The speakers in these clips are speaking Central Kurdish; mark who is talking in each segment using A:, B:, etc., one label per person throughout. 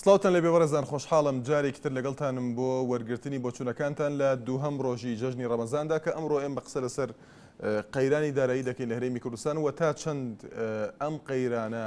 A: سڵاوتان لە بێوەڕێزان خۆشحاڵم جارێکی تر لەگەڵتانم بۆ وەرگرتنی بۆچوونەکانتان لە دووهەم ڕۆژی جەژنی ڕەمەزاندا کە ئەمڕۆ ئێمە قسە لەسەر قەیرانی دارایی دەکەین لە هەرێمی کوردستان و تا چەند ئەم قەیرانە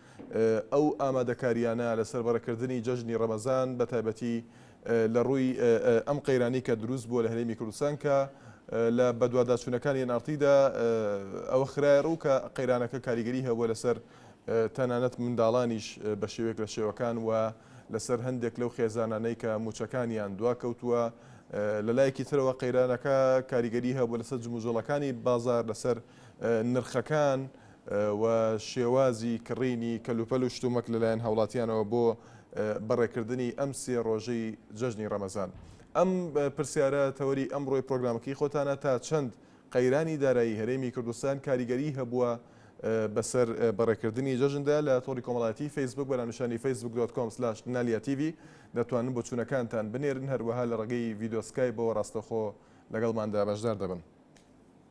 A: ئەو ئامادەکارییانە لە سەربەڕێکردنی جەژنی ڕەمەزان بە تایبەتی لە ڕووی ئەم قەیرانەی کە دروست بووە لە هەرێمی کوردستان کە لە بەدواداچوونەکانی ئێن ئاڕ تیدا ئەوە خرایە ڕوو کە قەیرانەکە کاریگەری هەبووە لەسەر تەنانەت منداڵانیش بە شێوەیەک لە شێوەکان و لەسەر هەندێک لەو خێزانانەی کە مووچەکانیان دواکەوتووە لە لایەکی ترەوە قەیرانەکە کاریگەری هەبووە لەسەر جموجۆڵەکانی بازاڕ لەسەر نرخەکان و شێوازی کڕینی کەلوپەل و شتومەک لەلایەن هاوڵاتیانەوە بۆ بەڕێکردنی ئەم سێ ڕۆژەی جەژنی ڕەمەزان؟ ئەم پرسیارە تەوەری ئەمڕۆی پرۆگرامەکەی خۆتانە تا چەند قەیرانی دارایی هەرێمی کوردستان کاریگەری هەبووە بەسەر بەڕێکردنی جەژندا لە تۆڕی کۆمەڵایەتی فەیسبوک بەناونیشانی facebook.com/naliatv دەتوانن بۆچوونەکانتان بنێرن هەروەها لە ڕێگەی ڤیدیۆ سکایبەوە ڕاستەخۆ لەگەڵماندا بەشدار دەبن.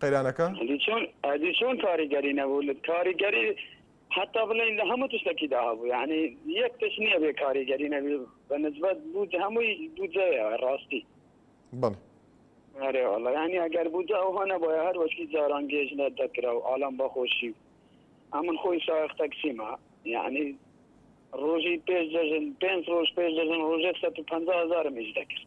A: قەیرانەکە؟ ئەدی چۆن ئەدی
B: چۆن کاریگەری نەبوو لە کاریگەری هەتا بڵێین لە هەموو تشتێکیدا هەبوو یعنی یەک تشت نییە بێ کاریگەری نەبی بە نسبەت بوو هەمووی بودجەیە ڕاستی
A: بەڵێ ئەرێ
B: وەڵا یعنی ئەگەر بودجە ئەو هەنە بۆیە هەر وەشکی جاران گێژ لە دەکرا و ئالان بەخۆشی ئەمن خۆی ساخ تەکسیمە یعنی ڕۆژی پێش جەژن پێنج ڕۆژ پێش جەژن ڕۆژێک سە پهزارم ئیش دەکرد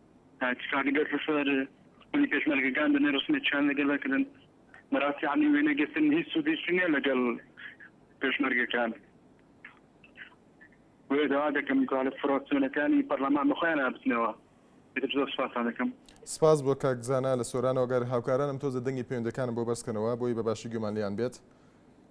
C: تاکیکاردگە سەر خولی پێشمەرگەکان دەنێ رسمێ چیان لەگەر دەکردن بەراستی عەلی وێنە گرتن هیچ سودیشی نیە لەگەل پێشمەرگەکان وێ داوا دەکەم گوالە فرۆسیۆنەکانی پەرلەمان بەخۆیان ئابتنەوە ئیتر زۆر سوپاستان دەکەم. سپاس بۆ کاک
A: زانا لە سۆرانەوە گەر هاوکارانم تۆزێ دەنگی پەیوەندەکانم بۆ بەرز کەنەوە بۆی بە باشی گوێمان لێیان بێت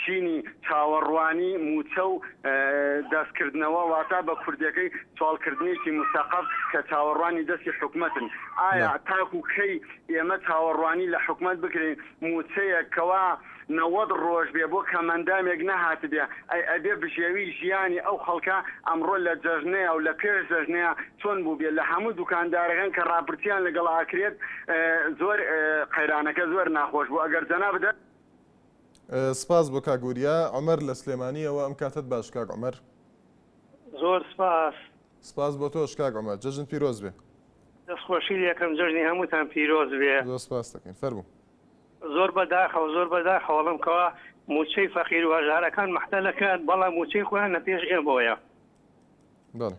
D: چینی چاوەڕوانی مووچە و دەستکردنەوە واتە بە کوردیەکەی چاڵکردنێکی مسەقەف کە چاوەڕوانی دەستی حکومەتن ئایا تاکو کەی ئێمە چاوەڕوانی لە حکومەت بکرێین مووچەیەک کەوا نەوەد ڕۆژ بێ بۆ کەمەندامێک نەهاتبێ ئەی ئەبێ بژێوی ژیانی ئەو خەڵکە ئەمڕۆ لە جەژنەیا و لە پێش جەژنەیا چۆن بووبێ لە هەموو دوکاندارەکان کە ڕاپرسیان لەگەڵ ئەکرێت زۆر قەیرانەکە زۆر ناخۆش بوو ئەگەر جەنابت
A: سپاس بۆ کاک وریا. عومەر لە سلێمانییەوە ئەم کاتەت باش کاک عومەر.
E: زۆر سپاس. سپاس بۆ تۆش
A: کاک عومەر. جەژنت پیرۆز بێ. دەست خۆشی
E: لێکەم جەژنی هەمووتان پیرۆز بێ. زۆر سپاست دەکەین. فەرموو.
A: زۆر بە
E: داخەوە زۆر بە داخەوە ڵم کەوا مووچەی فەقیر و هەژارەکان مەحتەلە کران بەڵام مووچەی خۆیان لە پێش ئێمەوەیە.
A: بەڵێ.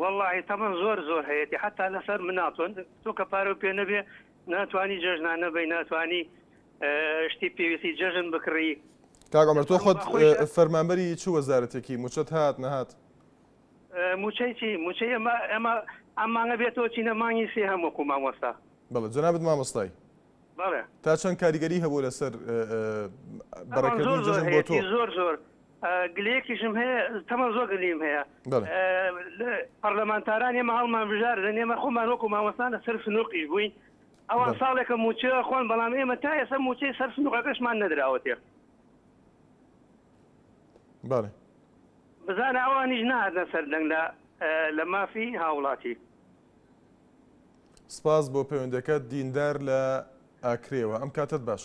A: وەڵا
E: هی تەمەن زۆر زۆر هەیەتی حەتا لەسەر منا تۆن تۆ کە پارەو پێ نەبێ ناتوانی جەژنان نەبی ناتوانی شتی پێویستی جەژن بکڕی کاگەمەر تۆ
A: خۆت فەرمانبەری چ وەزارەتێکی موچەت هات نەهات
E: موچەی چی موچەی ئەمە ئەمە ئەم مانگە بێتەوە چینە مانگی سێ هەم وەکو مامۆستا بەڵێ جەنابت
A: مامۆستای بەڵێ
E: تا چەند کاریگەری
A: هەبوو لەسەر بەڕێکردنی جەژن بۆ تۆ زۆر زۆر
E: گلەیەکیشم هەیە تەمەن زۆر گلیم هەیە پەرلەمانتاران ئێمە هەڵمان بژار لە نێمە خۆمان وەکو مامەستانە سەر سنووقیش بووین ئەوان ساڵێکە موچە خۆن بەڵام ئێمە تا ئێستا موچەی سەر سنووقەکەشمان نەدراوەتێ
A: بەڵێ بزانە
E: ئەوانیش نهاتە سەر دەنگ لە لە مافی هاوڵاتی
A: سپاس بۆ پەیوەندەکە دیندار لە ئاکرێەوە ئەم کاتت باش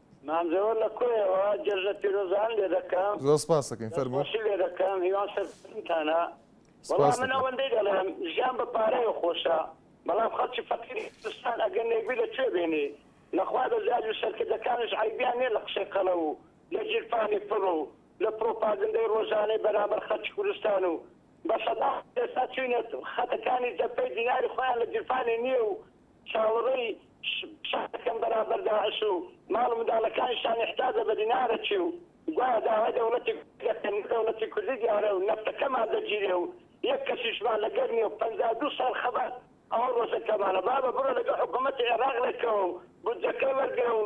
A: مانجەوە لە
B: کۆیەوە جەژنە پیرۆزان لێ دەکەم. زۆر سپاست دەکەین فەرموو.
A: دەستخۆشی لێ دەکەم هیوام
B: سەرکەوتنتانە. وەڵا سپاست من دەکەم. ئەوەندەی دەڵێم ژیان بە پارەیە خۆشە بەڵام خەڵکی فەقیری کوردستان ئەگەر نێربی لە کوێ بێنی لە خوا بە زیاد و سەرکردەکانش عەیبیان نیە لە قسەی قەڵەو و لە گیرفانی پڕ و لە پرۆپاگندەی ڕۆژانەی بەرامبەر خەڵکی کوردستان و بە سەدان خەڵک ئێستا چوینە خەتەکانی جەبهەی دیناری خۆیان لە گیرفانی نیە و چاوەڕێی شەڕ دەکەن بەرامبەر داعش و ماڵ و منداڵەکانیشیان ئیحتاجە بە دینارەکی و گوایە داوای دەوڵەتی کوردی دەکەن نە دەوڵەتی کوردی دیارە و نەفتەکەمان دەگیرێ و یەک کەسیشمان لەگەر نیە و پەنجا و دوو ساڵ خەبات ئەوە ڕۆژەکەمانە بابە بڕۆ لەگەڵ حکوومەتی عێراق ڕێککەوە و بودجەکەی وەرگرە و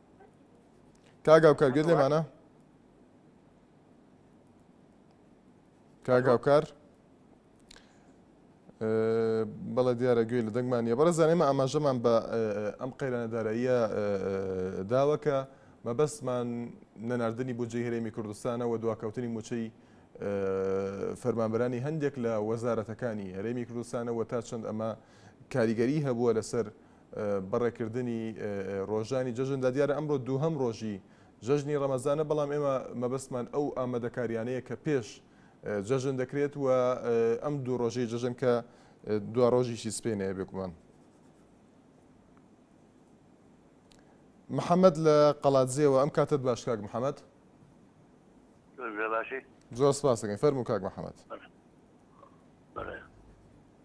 A: کاگاوکار گوێت لێمانە کاگاوکار بەڵە دیارە گوێی لە دەنگمان نیە بەڕێزان ئێمە ئاماژەمان بە ئەم قەیرانە داراییە داوەکە مەبەستمان نەناردنی بۆ جێ هەرێمی کوردستانە و دواکەوتنی موچەی فەرمانبەرانی هەندێک لە وەزارەتەکانی هەرێمی کوردستانەوە تا چەند ئەمە کاریگەری هەبووە لەسەر بە ڕێکردنی ڕۆژانی جەژندا، دیارە ئەمڕۆ دووهەم ڕۆژی جەژنی ڕەمەزانە، بەڵام ئێمە مەبەستمان ئەو ئامادەکارییانەیە کە پێش جەژن دەکرێت و ئەم دوو ڕۆژەی جەژن کە دواڕۆژیشی سپێنەیە بێگومان. محەممەد لە قەڵاتزێوە ئەم کاتت باش کاک محەممەد زۆر سپاس دەکەین فەرموو کاک محەممەد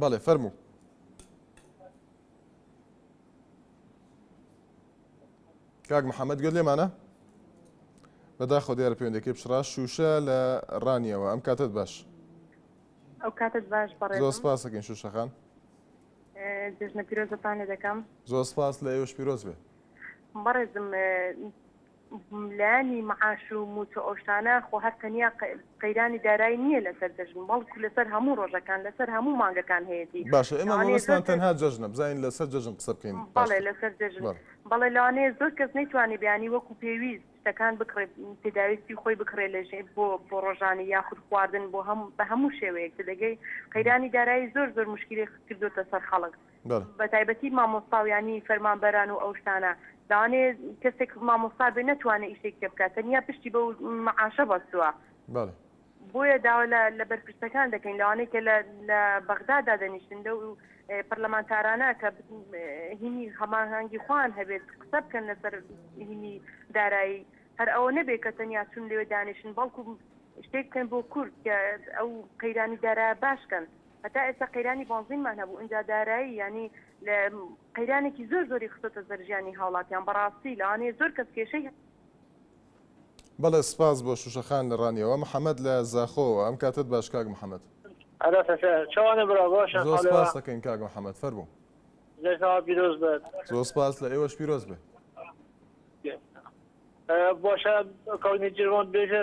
F: بەڵێ
A: فەرموو. کاک محەممەد گوێت لێمانە بەداخۆ دیارە پەیوەندەکەی پشڕا شوشە لە ڕانیەوە ئەم کاتت باش
G: ئەو کاتت باش بەڕێ سپاسەکەین شوشەخان
A: جژنە
G: پیرۆزەتان لێ دەکەم زۆر سپاس لە ئێوەش
A: پیرۆز بێ بەڕێزم
G: لانی معاش و موچە ئەوشتانە خۆ هەر تەنیا قەیرانی دارایی نیە لەسەر جەژن بەڵکو لەسەر هەموو ڕۆژەکان لەسەر هەموو مانگەکان هەیەتی باشە ئێمە مەبەستمان
A: تەنها جەژنە بزانین لەسەر جەژن قسە بکەین بەڵێ لەسەر جەژن
G: بەڵێ لەوانەیە زۆر کەس نەیتوانی بیانی وەکو پێویست شتەکان بکڕێ پێداویستی خۆی بکڕێ لە ژێ بۆ بۆ ڕۆژانی یاخود خواردن بۆ هەم بە هەموو شێوەیەک تدەگەی قەیرانی دارایی زۆر زۆر مشکلی کردوتە سەر خەڵک بەتایبەتی مامۆستا و یانی فەرمانبەران و ئەو شتانە لەوانەیە کەسێک مامۆستا بێ نەتوانێ ئیشێک پێ بکات تەنیا پشتی بەو معاشە بەستووە بۆیە داوا لە بەرپرسەکان دەکەین لەوانەیە کە لە بەغدا دادەنیشتن لەو پەرلەمانتارانە کە هینی هەماهەنگی خوان هەبێت قسە بکەن لەسەر هینی دارایی هەر ئەوە نەبێت کە تەنیا چون لێوێ دانیشن بەڵکو شتێک بکەن بۆ کورد کە ئەو قەیرانی دارا باشکەن هەتا ئێستا قەیرانی بۆنزینمان هەبوو ئینجا دارایی یانی لە قەیرانێکی زۆر زۆری خستۆتە سەر ژیانی هاوڵاتیان بەڕاستی لەوانەیە زۆر کەس کێشەی
A: بەڵێ سپاس بۆ شوشە خان لە ڕانیەوە. محەمەد لە زاخۆوە ئەم کاتەت باش کاک محەمەد. ئەرا سەسە
H: چەوانە برا باشە زۆر خالەوە. سپاست ئەکەین کاک
A: محەمەد فەرموو. جەژنەوە پیرۆز
H: بێت. زۆر سپاس لە ئێوەش
A: پیرۆز بێ. باشە کاک
H: نێچیرڤان بێژە.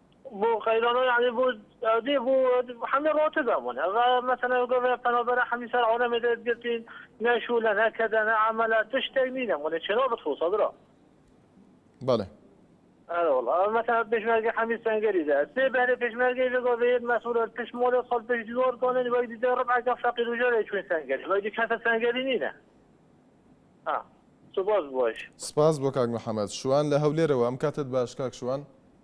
H: بۆ قەیرانۆ یانی بۆ ئەودێ بۆ حەمێ ڕۆتە دابوون ئەڤا مەسەلە گەڤێ پەنابەرە حەمیسار عۆنە مێدێت گرتین نەشوولە نەکەدە نە عەمەلە تشتێک نینە مونێ چێنۆ بتخوسە برا
A: بەڵێ ئەرە
H: وڵا مەسەلە پێشمەرگە حەمی سەنگەری دا سێ بەرێ پێشمەرگەی لەگەڵ بێت مەسوولە تش مۆلە خەڵ پێش دیوار کۆنن وەک دیدە ڕبعەکە فەقیر و ژەرێ چوین سەنگەری وەک دی کەسە سەنگەری نینە ئا سوپاس بۆش سپاس بۆ کاک
A: محمد شوان لە هەولێرەوە ئەم کاتت باش کاک شوان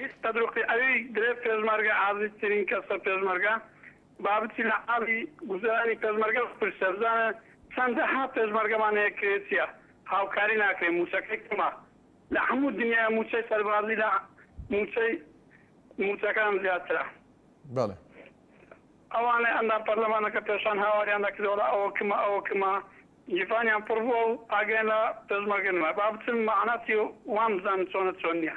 A: هیچ
C: قەدروقی ئەوی درێ پێشمەرگە عازیز ترین کەسە پێشمەرگە با بچی لە حاڵی گوزەرانی پێشمەرگە بپرسە بزانە چەند دە ها پێشمەرگەمان هەیە کرێچیە هاوکاری ناکرێ موچەکەی کەمە لە هەموو دنیا موچەی سەربازی لە موچەی موچەکان زیاترە. بەڵێ. ئەوانەی ئەندام پەرلەمانەکە پێشان هاواریان دەکرد وەڵا ئەوە کمە ئەوە کمە گیفانیان پڕ بووە و ئاگایان لە پێشمەرگە نما با بچن مەعنا چیە وان بزانن چۆنە چۆن نیە.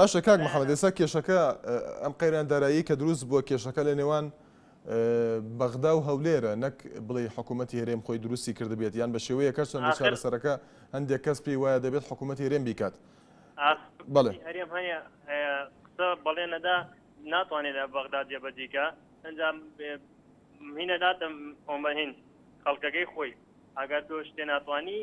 I: باشە کاک
A: محمد ئێستا کێشەکە ئەم قەیران دارایی کە دروست بووە کێشەکە لە نێوان بەغدا و هەولێرە نەک بڵێ حکوومەتتی هەرێم خۆی دروستی کردبێت یان بە شێوەیە کە چەند چارەسەرەکە هەندێک کەس پێی وایە دەبێت حکوومەت هەرێم بیکات بڵێ هەرێم هەیە قسە بەڵێ
I: نەدا ناتوانێت لە بەغدا جێبەجیکە ئەنجام هینە داتم ئۆمەهین خەڵکەکەی خۆی ئەگەر تۆ شتێ ناتوانانی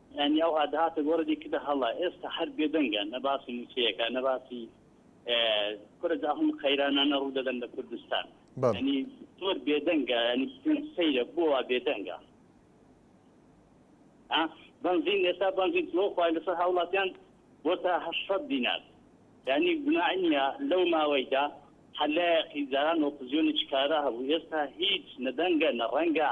J: یانی ئەوها دەهاتە گۆڕێ دەیکردە هەڵە ئێستا هەر بێدەنگە نە باسی مووچەیە کە نە باسی کورە جا هەموو قەیرانانە ڕوو دەدەن لە کوردستان بەڵێ ینی زۆر بێدەنگە ینی پێم سەیرە بۆ وا بێدەنگە ها؟ بەنزین ئێستا بەنزین تۆ خوای لەسەر هاوڵاتیان بۆ تا 800 دینار یعنی گوناع نییە لەو ماوەیدا هەلایەقی جاران ئۆپزیۆنی چکارا هەبوو ئێستا هیچ نەدەنگە نە ڕەنگە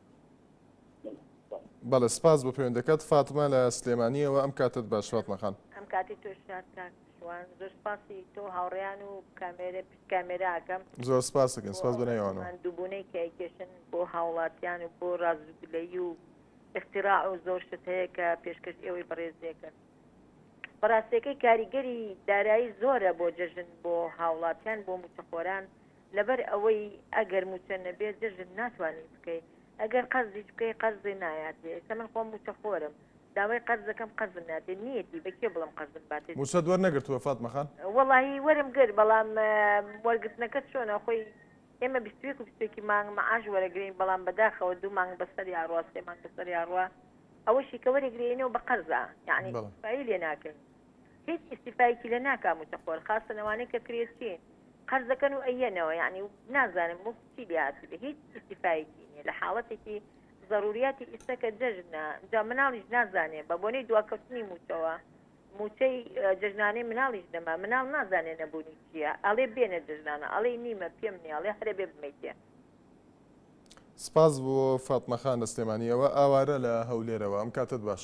A: بەڵێ سپاس بۆ پەیوەندەکەت فاتمە لە سلێمانیەوە ئەم کاتت باش فاتمەخان ئەم کاتی تۆش
K: شوان زۆر سپاسی تۆ هاوڕیان و کامێرە پشت کامێراکەم زۆر سپاسەکەن
A: سپاس بەنەوانەوە دوبوونەی کە ئەیکێشن
K: بۆ هاوڵاتیان و بۆ ڕازگلەی و اختراع و زۆر شت هەیە کە پێشکەش ئێوەی بەڕێزیەکەن بەڕاستەکەی کاریگەری دارایی زۆرە بۆ جەژن بۆ هاوڵاتیان بۆ موچەخۆران لەبەر ئەوەی ئەگەر موچە نەبێ جەژن ناتوانی بکەی ئەگەر قەرزیش بکەی قەرزێ نایاتێ ئێستا من خۆم موچە خۆرم داوای قەرز دەکەم قەرزم ناتێ نیەتی بە کێ بڵێم قەرزم باتێ. موچەت وەرنەگرتووە فاتمە
A: خان؟ وەڵاهی وەرم
K: گرت بەڵام وەرگرتنەکە چۆنە خۆی ئێمە بیست و یەک و بیست و یەکی مانگ معاش وەرەگرین بەڵام بەداخەوە دوو مانگ بەسەری ئاڕوا سێ مانگ بەسەری ئاڕوا ئەوەشی کە وەرەگرێینەوە بە قەرزە یەعنی بەڵێ. ئیستفایی لێ ناکەین. هیچ ئیسیفایەکی لە ناکا موچەخۆر خاستە لەوانەیە کە کرێچین قەرزەکەن و ئەیەنەوە یعنی نازانم مفت چی لێهاتی بە هیچ ئیسیفایەکی نیە لە حاڵەتێکی ضروریاتی ئیسەکە جەژنە جا مناڵیش نازانێ بە بۆنەی دواکەوتنی موچەوە موچەی جژنانەی مناڵیش دەما مناڵ نازانێ نەبوونی چییە ئەڵێ بێنە جژنانە ئەڵێ نیمە پێم نیاڵێ هەرە بێ بمیتێ
A: سپاس بۆ فاتمەخان لە سلێمانیەوە ئاوارە لە هەولێرەوە ئەم کاتت باش.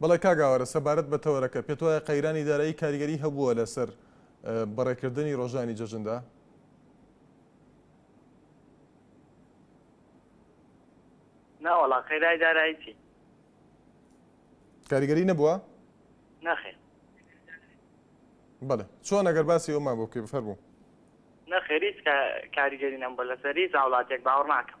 A: بەڵێ کاک ئاوارە سەبارەت بە تەوەرەکە پێت وایە قەیرانی دارایی کاریگەری هەبووە لەسەر بەڕێکردنی ڕۆژانی جەژندا؟ ناوەڵا
L: قەیرای دارایی چی؟
A: کاریگەری نەبووە؟ نەخێ بەڵێ چۆن ئەگەر باسی ئەومان بۆ بکەی بفەرموو نەخێریت کاریگەری نەم
L: بە لەسەری زاوڵاتێک باوەڕ ناکەم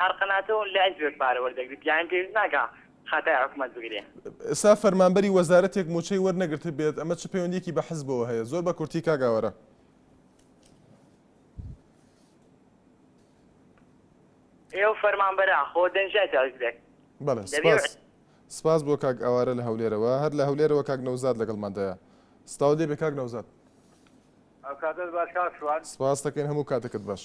L: هەر قەناتەوەن لە ئەنج بێت پارە وەردەگرێت پیایم پێویست ناکا خەتای حکومەت بگرێ. ئێستا فەرمانبەری
A: وەزارەتێک موچەی وەرنەگرتبێت ئەمە چ پەیوەندیەکی بە حزبەوە هەیە زۆر بە کورتی کاک ئاوارە. ئێو
L: فەرمانبەرە خۆ دەنجای تاژگرێک. بەڵێ سپاس
A: سپاس بۆ کاک ئاوارە لە هەولێرەوە هەر لە هەولێرەوە کاک نەوزاد لەگەڵماندایە سپاو لێ بێ کاک نەوزاد. ئەو
M: کاتت باش کاک شوان. سپاس دەکەین هەموو کاتەکەت
A: باش.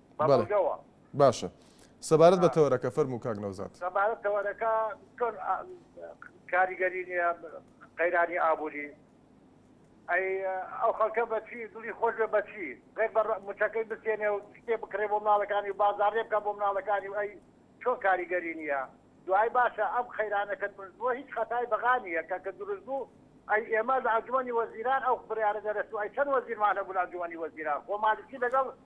M: بە بەڵێ بەڵگەوە. باشە
A: سەبارەت بە تەوەرەکە فەرموو کاک نەوزاد. سەبارەت تەوەرەکە
M: چۆن کاریگەری نییە قەیرانی ئابووری؟ ئەی ئەو خەڵکە بە چی دڵی خۆش بێ بە چی؟ غەیر بە مچەکەی بستێنێ و شتێ بکڕێ بۆ مناڵەکانی و بازاڕێ بکا بۆ مناڵەکانی و ئەی چۆن کاریگەری نییە؟ دوایی باشە ئەم قەیرانە کە دروست بووە هیچ خەتای بەغا نییە کە کە دروست بوو ئەی ئێمە لە ئەنجومەنی وەزیران ئەو بڕیارە دەرەچوو ئەی چەند وەزیرمان هەبوو لە ئەنجومەنی وەزیران خۆ مالکی لەگەڵ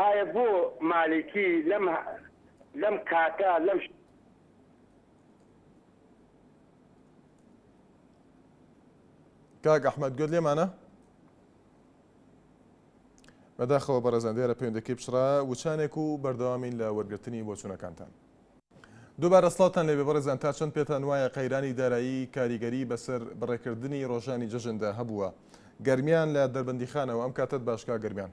A: ئایا بۆ مالیکی لەم لەم کاتە لەم. کاک ئەحمەد گوێت لێمانە؟ بەداخەوە بەڕێزان دیارە پەیوەندەکەی پچڕا وچانێک و بەردەوامین لە وەرگرتنی بۆچوونەکانتان. دووبارە سڵاوتان لێبێ بەڕێزان تا چەند پێتان وایە قەیرانی دارایی کاریگەری بەسەر بەڕێکردنی ڕۆژانی جەژندا هەبووە؟ گەرمیان لە دەربەندیخانەوە، ئەم کاتەت باش کاک گەرمیان.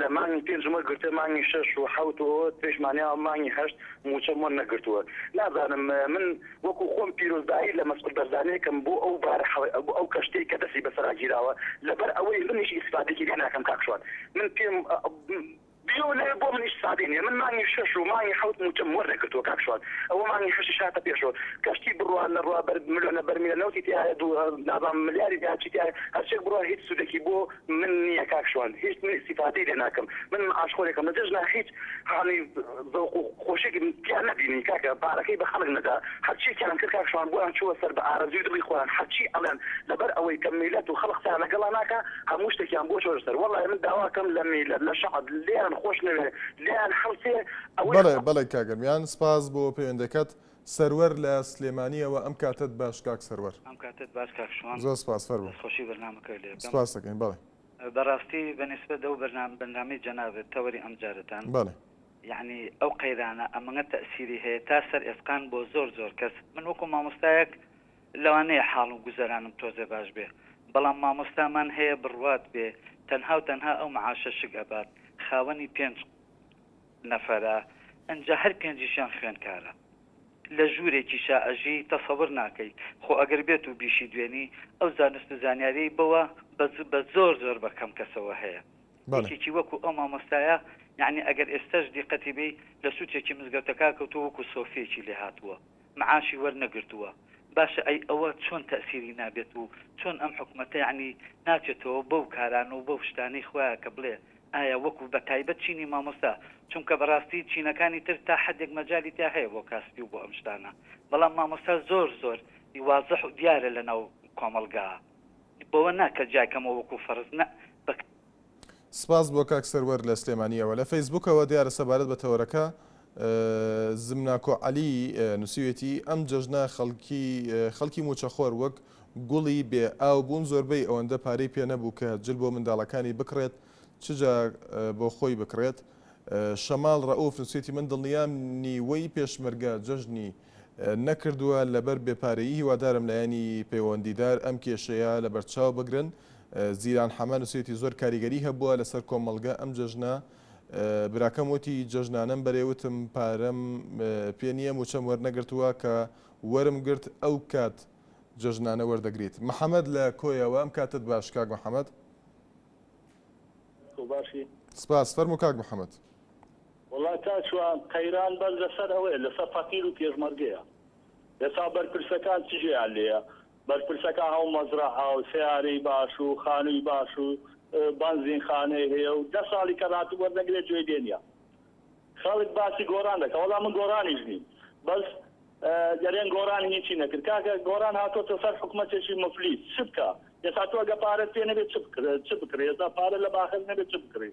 N: لە مانگی پێنج مۆ گرتووە مانگی شەش و حەوت و ترێش مانیاوە مانگی هەشت مووچە مۆ نەگرتووە نازانم من وەکو خۆم پیرۆزبایی لە مەسعود بەرزانی ئەکەم بۆ ئەو بارە حەوە بۆ ئەو کەشتیەی کە دەستی بەسەرا گیراوە لەبەر ئەوەی منیش ئیسفادەیەکی لێ ناکەم کاک شوان من پێم بیەوە نەوێ بۆ منیش سادەی نیە من مانگی شەش و مانگی حەوت مووچەم وەر نەگرتووە کاک شوان ئەوە مانگی هەشتیش هاتە پێشەوە کەشتی بڕوا نەڕوا بەر ملۆنە بەرمیلە نەوتی تیایە دوو نازانم ملیاری تیا چی تیایە هەرچێک بڕوا هیچ سوودێکی بۆ من نیە کاک شوان هیچ سیفاتی لێ ناکەم من معاش خۆرێکم لە جەژنا هیچ هانی زەوق و خۆشێکم تیا نەبینی کاکە بارەکەی بە خەڵک نەدا هەرچی کیان کرد کاک شوان بۆیان چووە سەر بە ئارەزوی دڵی خۆیان هەرچی ئەڵێن لەبەر ئەوەی کە میلەت و خەڵک قسەیان لەگەڵا ناکا هەموو شتێکیان بۆ چۆشە سەر وەڵا من داواکەم لە میلەت لە شەعب لێیان خۆش نەوێ لێیان هەڵسێ ئەوەی خۆ. بەڵێ بەڵێ
A: کاک گەرمیان سپاس بۆ پەیوەندەکەت سەروەر لە سلێمانیەوە ئەم کاتەت باش کاک سەروەر. ئەم کاتەت باش کاک
O: شوان. زۆر سپاس فەرموو. دەست خۆشی
A: بەرنامەکە لێ ئەکەم.
O: سپاست ئەکەین بەڵێ.
A: بە ڕاستی بە
O: نیسبەت ئەو بەرنامە بەرنامەی جەنابت تەوەری ئەم جارەتان. بەڵێ.
A: یەعنی ئەو
O: قەیرانە ئەمەگە تەئسیری هەیە تا سەر ئێسقان بۆ زۆر زۆر کەس من وەکو مامۆستایەک لەوانەیە حاڵ و گوزەرانم تۆزێ باش بێ بەڵام مامۆستا مان هەیە بڕوات بێ تەنها و تەنها ئەو معاشە شک ئەبات خاوەنی پێنج نەفەرە ئنجا هەر پێنجیشیان خوێنکارە لە ژورێکی شا ئەژی تەسەور ناکەی خۆ ئەگەر بێتو بیشی دوێنی ئەو زانست و زانیاریەی بەوە بە زۆر زۆر بە کەم کەسەوە هەیە یەکێکی وەکو ئەو مامۆستایە یەعنی ئەگەر ئێستەش دیقەتی بەی لە سوچێکی مزگەوتەکە کەوتوە وەکو سۆفیەکی لێهاتوە معاشی وەرنەگرتووە باشە ئەی ئەوە چۆن تەئسیری نابێت و چۆن ئەم حکومەتە یەعنی ناچێتەوە بەو کارانە و بەو شتانەی خوایە کە بڵێ ئایا وەکو بە تایبەت چینی مامۆستا چونکە بەڕاستی چینەکانی تر تا حەدێک مەجالی تیا هەیە بۆ کاسپی و بۆ ئەم شتانە بەڵام مامۆستا زۆر زۆر وازح و دیارە لەناو کۆمەڵگا بەوە نا کە جیای کەمەوە وەکو فەڕز نە بە
A: سپاس بۆ کاک سەروەر لە سلێمانیەوە لە فەیسبوکەوە دیارە سەبارەت بە تەوەرەکە زمناکۆ عەلی نووسیوێتی ئەم جەژنە خەڵکی خەڵکی موچەخۆر وەک گوڵی بێ ئاو بوون زۆربەی ئەوەندە پارەی پێ نەبوو کە جل بۆ منداڵەکانی بکڕێت چجا بۆ خۆی بکڕێت شەماڵ ڕەوف نووسێتی من دڵنیام نیوەی پێشمەرگە جەژنی نەکردووە لەبەر بێ پارەیی هیوادارم لایەنی پەیوەندیدار ئەم کێشەیە لەبەرچاو بگرن زیلان حەمە نوسیویەتی زۆر کاریگەری هەبووە لەسەر کۆمەڵگە ئەم جەژنە براکەم وتی جەژنانەم بەرێ وتم پارەم پێ نییە موچەم وەرنەگرتووە کە وەرم گرت ئەو کات جەژنانە وەردەگریت محەمەد لە کۆیەوە ئەم کاتت باش کاک محەمەد سپاس فەرموو کاک محەمەد وەڵا
P: کاکجوان قەیران بەس لەسەر ئەوەیە لەسەر فەقیرو پێشمەرگەیە ئێستا بەرپرسەکان چ جێیان لێیە بەرپرسەکان هەموو مەزرەعەو سەیارەی باش و خانووی باش و بەنزین خانەی هەیە و دە ساڵی کەلاتوو وەرنەگرێ گوێی لێ نیە خەڵک باسی گۆران دەکا وەڵا من گۆرانیش نیم بەس دەرێن گۆران هیچی نەکرد کاکە گۆران هاتۆتە سەر حکومەتێکی مفلیس چ بکا ئێستا تۆ گە پارەت پێ نەبێ چ بکڕێ چ بکڕێ ئێستا پارە لە باخەک نەبێ چ بکڕی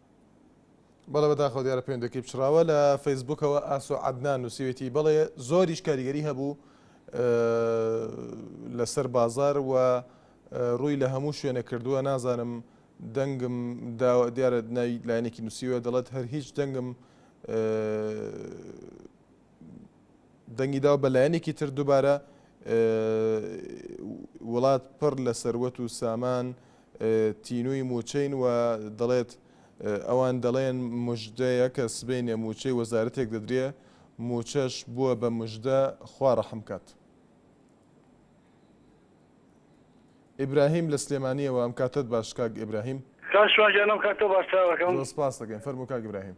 A: بەڵێ بەداخەوە دیارە پەیوەندەکەی پچڕاوە لە فەیسبوکەوە ئاسۆ عەدنان نووسیوێتی بەڵێ زۆریش کاریگەری هەبوو لەسەر بازار و ڕووی لە هەموو شوێنە کردووە نازانم دەنگم دیارە ناوی لایەنێکی نووسیوە دەڵێت هەر هیچ دەنگم دەنگی داوە بە لایەنێکی تر دوبارە وڵات پڕ لە سەروەت و سامان تینووی موچەین و دەڵێت ئەوان دەڵێن مژدەیە کە سبینێ موچەی وەزارەتێک دەدرێ موچەش بووە بە مژدە خوا ڕەحمکات. ئیبراهیم لە سلێمانیەوە ئەم کاتت باش کاک ئیبراهیم کاش شوانجیان ئەم
C: کاتە باشتراوەکەم سپاس دەکەین فەرمو کاک
A: ئیبراهیم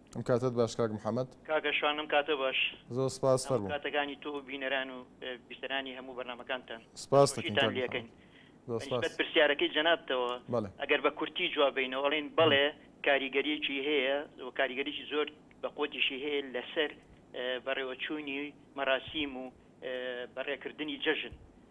A: ئەم کاتەت باش کاک محمد. کاکە شوان ئەم کاتە
Q: باش. زۆر سپاس ئەم فەرموو.
A: کاتەکانی تۆ و بینەران
Q: و بیسەرانی هەموو بەرنامەکانتان سپاست دەکەین پێشکەشتان
A: کاک لێ محمد. ئەکەین.
Q: زۆر بە سپاس. نیسبەت پرسیارەکەی جەنابتەوە بەڵێ. ئەگەر بە کورتی جواب بینەوە ئەڵێین بەڵێ کاریگەریەکی هەیە و کاریگەریی زۆر بە قوەتیشی هەیە لەسەر بەڕێوەچوونی مەراسیم و بەڕێکردنی جەژن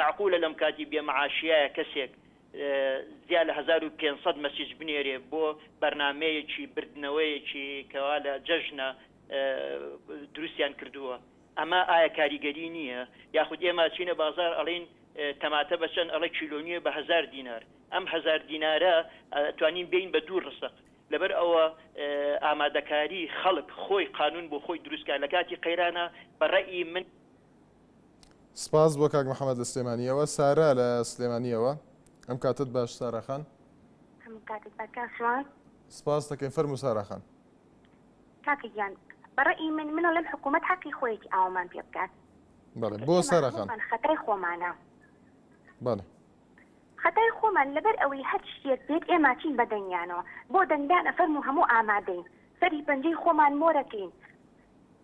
Q: مەعقولە لەم کاتی بێ مەعاشیایە کەسێک زیا لە هەزار و پێنج سەد مەسیج بنێرێ بۆ بەرنامەیەکی بردنەوەیەکی کەوا لە جەژنە دروستیان کردووە ئەمە ئایا کاریگەری نییە یاخود ئێمە ئەچینە بازار ئەڵێن تەماتە بە چەند ئەڵێ کیلۆ نییە بە هەزار دینار ئەم هەزار دینارە ئەتوانین بێین بە دوو ڕسق لەبەر ئەوە ئامادەکاری خەڵک خۆی قانون بۆ خۆی دروستکە لە کاتی قەیرانە بە ڕەئی من
A: سپاس بۆ کاک محمد لە سلێمانیەوە. سارا لە سلێمانیەوە. ئەم کاتەت باش سارا خان. هەموو کاتت باش کاک سوان. سپاست دەکەین فەرموو سارا خان. کاکە
R: گیان بە ڕەئی من من ئەڵێم حکوومەت حەقی خۆیەتی ئاوامان پێ بکات. بەڵێ بۆ
A: سارا خان. ئێمە
R: هەموومان
A: خەتای خۆمانە. بەڵێ.
R: خەتای خۆمان لەبەر ئەوەی هەر شتێک بێت ئێمە چین بە دەنگیانەوە بۆ دەنگدان ئەفەرموو هەموو ئامادەین سەری پەنجەی خۆمان مۆرەکەین.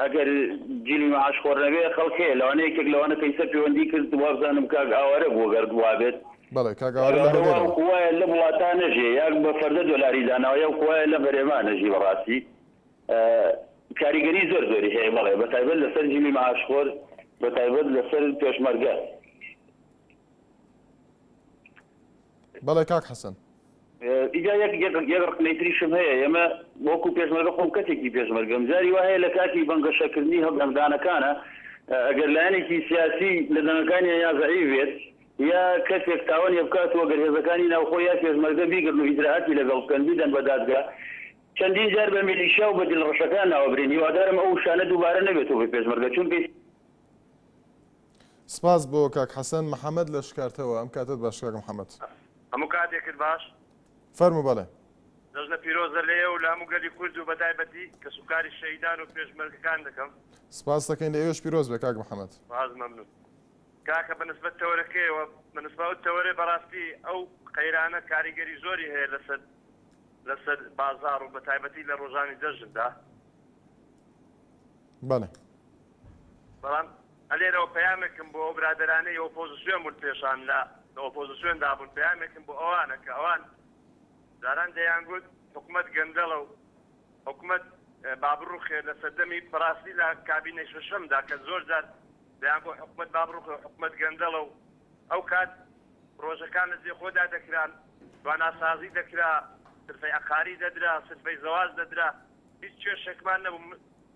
S: ئەگەر جلی معاش خۆر نەبێ خەڵک هەیە لەوانە یەکێک لەوانە پێیسە پەیوەندی کرد وابزانم کاک ئاوارە بوو گەر وابێت بەڵێ کاک ئاوارە لە
A: هەولێرەوە وایە لەم وڵاتە
S: نەژێ یان بە فەردە دۆلاری داناوە یان وایە لە بەرێما نەژی بەڕاستی کاریگەری زۆر زۆری هەیە بەڵێ بە تایبەت لەسەر جلی معاش خۆر بە تایبەت لەسەر پێشمەرگە
A: بەڵێ کاک حەسەن. ئیجا
S: یەک یەک یەک ڕخنەی تریشم هەیە ئێمە وەکو پێشمەرگە خۆم کەسێکی پێشمەرگەم جاری وا هەیە لە کاتی بەنگەشە کردنی هەڵ دەنگدانەکانە ئەگەر لایەنێکی سیاسی لە دەنگەکانیا یا زەعیف بێت یا کەسێک تاوانیە بکات و گەر هێزەکانی ناوخۆ یا پێشمەرگە بیگرن و ئیجرائاتی لەگەڵ بکەن بیدەن بە دادگا چەندین جار بە میلیشیا و بە دلڕەشەکان ناوبرێن هیوادارم ئەو وشانە دووبارە نەبێتەوە بە پێشمەرگە چونکە
A: سپاس بۆ کاک حەسەن محەمەد لە شکارتەوە. ئەم کاتەت باش کاک محەمەد. هەموو کاتێکت
T: باش. فەرموو بەڵێ.
A: جەژنە پیرۆزە
T: لە ئێوەو لە هەموو گەلی کورد و بەتایبەتی کەسوکاری شەهیدان و پێشمەرگەکان دەکەم. سپاست دەکەین لە
A: ئێوەش پیرۆز بێ کاک محەمەد. سپاس مەمنون
T: کاکە بە نسبەت تەوەرەکەیەوە بە نسبە ئەو تەوەرەی بەڕاستی ئەو قەیرانە کاریگەری زۆری هەیە لەسەر لەسەر بازاڕ و بەتایبەتی لە ڕۆژانی جەژندا
A: بەڵێ.
T: بەڵام لێرەوە پەیامێکم بۆ ئەو برادەرانەی ئۆپۆزسیۆن بوون پێشان لە ئۆپۆزسیۆندا بوون پەیامێکم بۆ ئەوانە کە ئەوان جاران دەیانگوت حکومەت گەندەڵە و حکومەت با بڕوخێ لە سەردەمی بەڕاستی لە کابینەی شەشەمدا کە زۆر جار دەیانگوت حکومەت با بڕوخێ حکومەت گەندەڵە و ئەو کات پرۆژەکان لە جێ خۆدا دەکران تواناسازی دەکرا سرفەی عەقاری دەدرا سرفەی زەواج دەدرا هیچ کێشێکمان نەبوو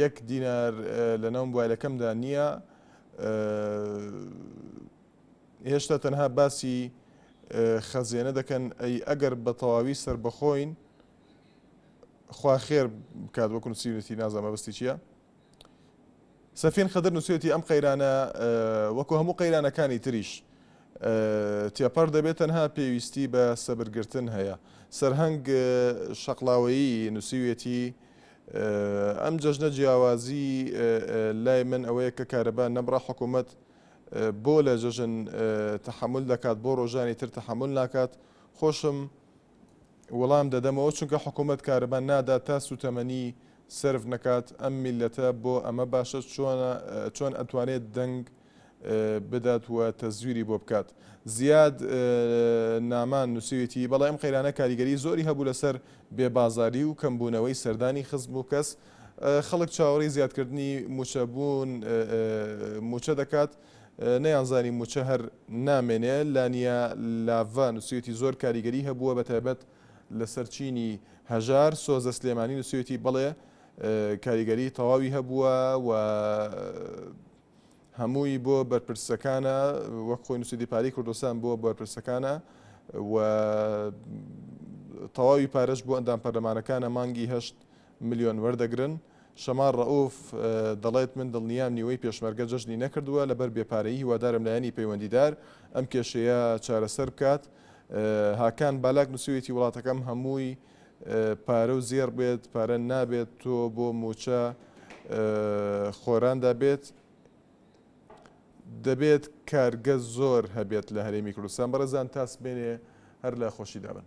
A: یەک دینار لە ناو موبایلەکەمدا نییە هێشتا تەنها باسی خەزێنە دەکەن ئەی ئەگەر بە تەواوی سربەخۆین خوا خێر بکات وەکو سیوتی نازە مەبستی چییە؟ سەفین خەدر نووسێتی ئەم قەیرانە وەکو هەموو قەیرانەکانی تریش تێپەر دەبێت تەنها پێویستی بە سەبرگرتن هەیە سەرهەنگ شەقلاوەیی نووسیوێتی ئەم جەژنە جیاوازی لای من ئەوەیە کە کارەبا نەمڕە حکوومەت بۆ لە جەژن تحمل دەکات بۆ ڕۆژانی تر تحمل ناکات خۆشم وەڵام دەدەمەوە چونکە حکوومەت کارەبا نادا تا سوتەمەنی سرف نکات ئەم میلەتە بۆ ئەمە باشە چۆن ئەتوانێت دەنگ بدات و تەزویری بۆ بکات. زیاد نامان نووسیویەتی، بەڵی ئەم قەیرانە کاریگەری زۆری هەبوو لەسەر بێ بازاری و کەم بوونەوەی سەردانی خزم و کەس، خەڵک چاوەڕی زیادکردنی مووچە بوون مووچە دەکات، نەیانزانی مووچە هەر نامێنێ. لانیا لاڤا نووسیویەتی، زۆر کاریگەری هەبووە بەتایبەت لەسەر چینی هەژار. سۆزە سلێمانی نووسیویەتی، بەڵێ کاریگەری تەواوی هەبووە و. هەمووی بۆ بەرپرسەکانە وەک خۆی نووسیدی پارەی کوردستان بۆ بەرپرسەکانە و تەواوی پارەش بۆ ئەندام پەرلەمانەکانە مانگی هەشت ملیۆن وەردەگرن شەمار ڕەوف دەڵێت من دڵنیام نیوەی پێشمەرگە جەژنی نەکردووە لەبەر بێپارەیی هیوادارم لایەنی پەیوەندیدار ئەم کێشەیە چارەسەر بکات هاکان بالاک نووسویەتی وڵاتەکەم هەمووی پارە و زێڕ بێت پارە نابێت تۆ بۆ موچە خۆراندا بێت دەبێت کارگە زۆر هەبێت لە هەرێمی کوردستان بەڕێزان تاسبێنێ هەر لە خۆشی دابن.